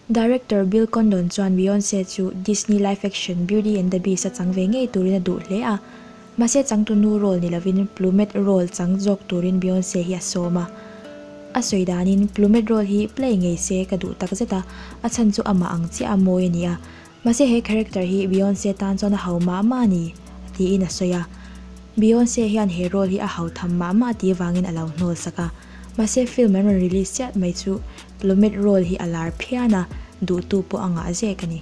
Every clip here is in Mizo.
Director Bill Condon chuan Beyonce chu Disney live action Beauty and the Beast a chang ve ngei turin a duh hle a. Mahse changtu nu role ni lovin Plumette role chang zawk turin Beyonce hi a sawm a. A sawi danin, Plumette role hi play ngei se ka duh takzet a, a chhan chu amah ang chiah a mawi a ni a. Mahse he character hi Beyonce tan chuan a hau mah mah a ni, tiin a sawi a. Beyonce hian he role hi a hau tham mah mah ti vangin a lo hnawlsak a. Mahse film an rawn release chiah mai chu lo met role hi a lar phian a, duhtu pawh a ngah zek a ni.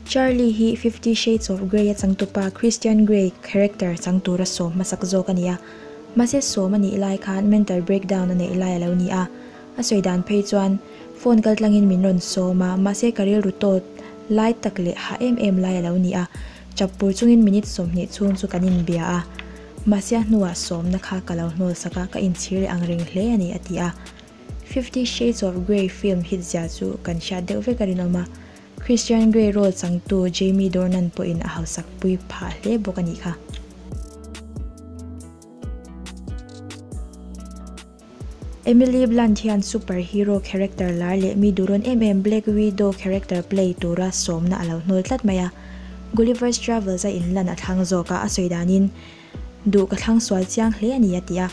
Charlie hi Fifty Shades of Grey a changtupa Christian Grey character chang tura sawm hmasak zawk a ni a. Mahse sawm a nih lai khan mental breakdown a neih lai a lo ni a, A sawi dan phei chuan phone kal tlangin min rawn sawm a, mahse ka rilru tawt lai tak leh hah em em lai a lo ni a, chap pur chungin minute sawmhnih chhung chu kan inbia a, mahse a hnuah sawmna kha ka lo hnawlsak a, ka inchhir leh ang reng hle a ni, a ti a. Fifty Shades of Grey film hit zia chu kan hriat deuh vek a rinawm a, Christian Grey role changtu Jamie Dornan pawhin a hausak pui phah hle bawk a nih kha. Emily Blunt hian super hero character lar leh mi duhrawn em em Black Widow character play tura sawmna a lo hnawl tlat mai a. Gulliver's Travels a inlan a thlang zawkah a sawi danin, Duh ka thlang sual chiang hle a ni, a ti a.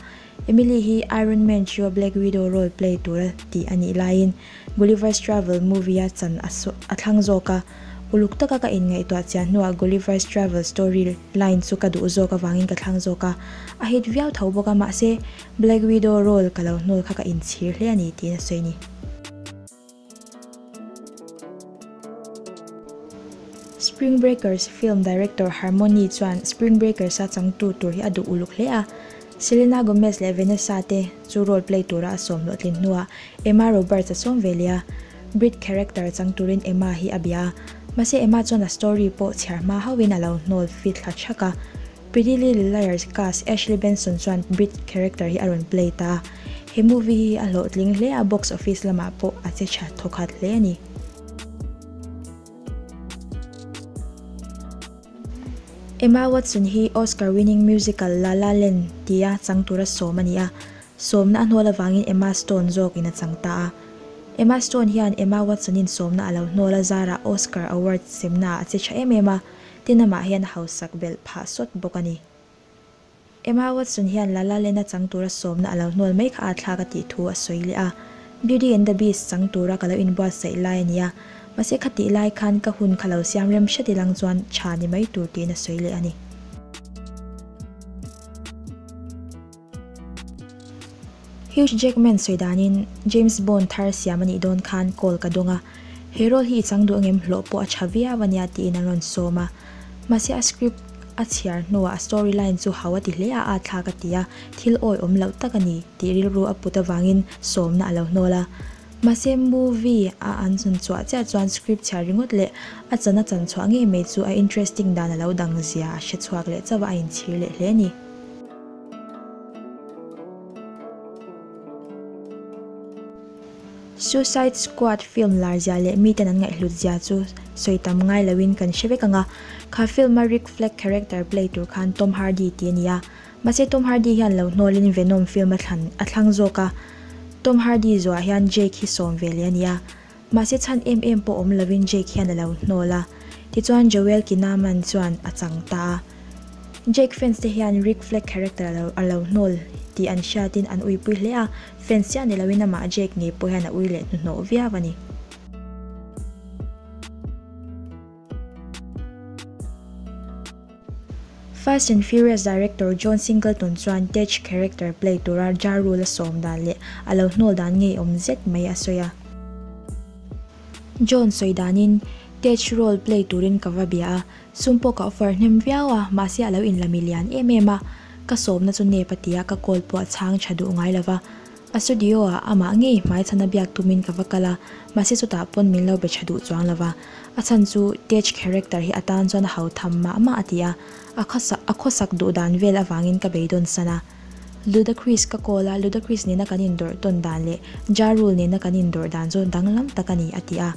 Emily hi Iron Man chhio Black Widow role play tur a tih a nih laiin, Gulliver's Travel movie a chan a a thlang zawk a. Uluk taka ka inngaihtuah chian hnuah Gulliver's Travel story line chu ka duh zawk avangin ka thlang zawk a. A hit viau tho bawk a, mahse, Black Widow role ka lo hnawl kha ka in chhir hle a ni tiin a sawi ni. Spring Breakers film director Harmony chuan Spring Breakers a changtu tur hi a duh uluk hle a. Selena Gomez leh Vanessa te chu role play tura a sawm hlawhtlin hnua Emma Roberts a sawm ve leh a. Brit character chang turin Emma hi a bia a. Mahse Emma chuan a story pawh chhiar hma hauhin a lo hnawl fit thla thak a. Pretty Little Liars cast Ashley Benson chuan Brit character hi a rawn play ta a, he movie hi a hlawhtling hle a, box office lamah pawh a che tha thaw khat hle a ni. Emma Watson hi Oscar winning musical La La Land ti a chang tura sawm a ni a, sawmna a hnawl avangin Emma Stone zawk in a chang ta a. Emma Stone hian Emma Watson in sawmna a lo hnawl a zara Oscar Award semna ah a che tha em em a, Tina mah hian a hausak belh phah sawt bawk a ni. Emma Watson hian La La Land-a chang tura sawmna a lo hnual mai kha a thlak a tih thu a sawi leh a, Beauty and the Beast chang tura ka lo inbuatsaih lai a nia, mahse kha tih lai khan ka hun kha lo siam rem hre dilang chuan tha ni mai tur tiin a sawi leh a ni. Hugh Jackman sawi danin James Bond thar siam a nih dawn khan call ka dawng a, he role hi i chang duh angem hlawh pawh a tha viau a nia tiin an rawn sawm a. Mahse a script a chhiar hnuah a story line chu hau a ti hle a, a thlak a ti a, thil awi awm loh tak a ni tih rilru a put avangin sawmna a lo hnawl a. Mahse movie a an hun chhuah chiah chuan script chhiar ringawt leh a chan a chan chhuah ngei mai chu a interesting dan a lo dang zia a hre chhuak leh chauh a, a inchhir leh hle a ni. Suicide Squad film larzia leh miten an ngaihhlut zia chu sawi tam ngai lo in kan hre vek ang a. Kha film a Rick Flag character play tur khan Tom Hardy tih a ni a. Mahse Tom Hardy hian lo hnawl in Venom film a thlan a thlang zawk a. Tom Hardy zuaah hian Jake hi sawm ve leh a ni a. Mahse chhan em em pawh awm lovin Jake hian a lo hnawl a. Tichuan Joel Kinnaman chuan a chang ta a. Jake fans te hian Rick Flag character a lo a lo hnawl tih an hriatin an uipui hle a. Fans chiah ni lovin amah Jake ngei pawh hian a ui leh hnuhnawh viau a ni. Fast and Furious director John Singleton chuan Tej character play tura Ja Rule a sawm dan leh a lo hnawl dan ngeiawm zet mai a sawi a. John sawi danin, Tej role play turin ka va bia a, Sumpawh ka offer hnem viau a, mahse a lo inla mi lian em em a, ka sawmna chu nep a tia ka call pawh a chhang tha duh ngai lova. A studio-ah amah ngei hmai chhan a biak tumin ka va kal a, mahse chutah pawn min lo be tha duh chuang lo va. A chhan chu Tej character hi atan chuan a hau tham mah mah a ti a, a khawsak a khawsak duh dan vel avangin ka beidaw'n san a. Ludacris ka call a, Ludacris nena kan indawrh tawn dan leh Ja Rule nena kan indawrh dan chu danglam tak a ni, a ti a.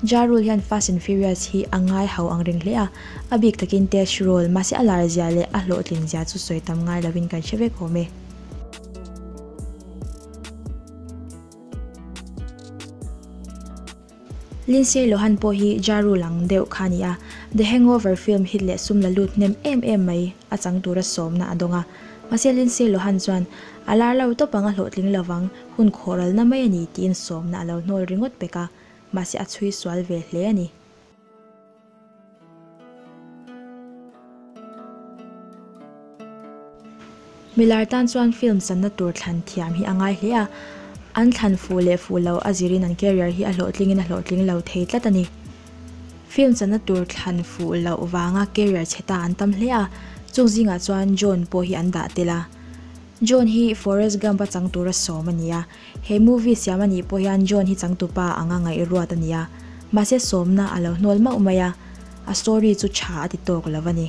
Ja Rule hian Fast and Furious hi a ngai hau ang reng hle a, a bik takin Test Rule, mahse a lar zia leh a hlawhtlin zia chu sawi tam ngai lovin kan hre vek awm e. Lindsay Lohan pawh hi Ja Rule ang deuh kha a ni a, The Hangover film hit leh sum la lut hnem em em mai a chang tura sawmna a dawng a. Mahse Lindsay Lohan chuan a lar lo tawp ang a hlawhtling lovang, Hun khawralna mai a ni tiin sawmna a lo hnawl ringawt pek a, mahse a chhui sual ve hle a ni. Mi lar tan chuan film channa tur thlan thiam hi a ngai hle a, an thlan fuh leh fuh loh a zirin an career hi a hlawhtlingin a hlawhtling lo thei tlat a ni. Film channa tur thlan fuh loh vanga career chheta an tam hle a, chuk zingah chuan John pawh hi an dah tel a. John hi Forest Gump-a changtur a sawm a nia. He movie siam anih pawh hian John hi changtu pa ang a ngaih ruat a nia. Mahse sawmna a lo hnual mauh mai a, a story chu tha a ti tawk lo a ni.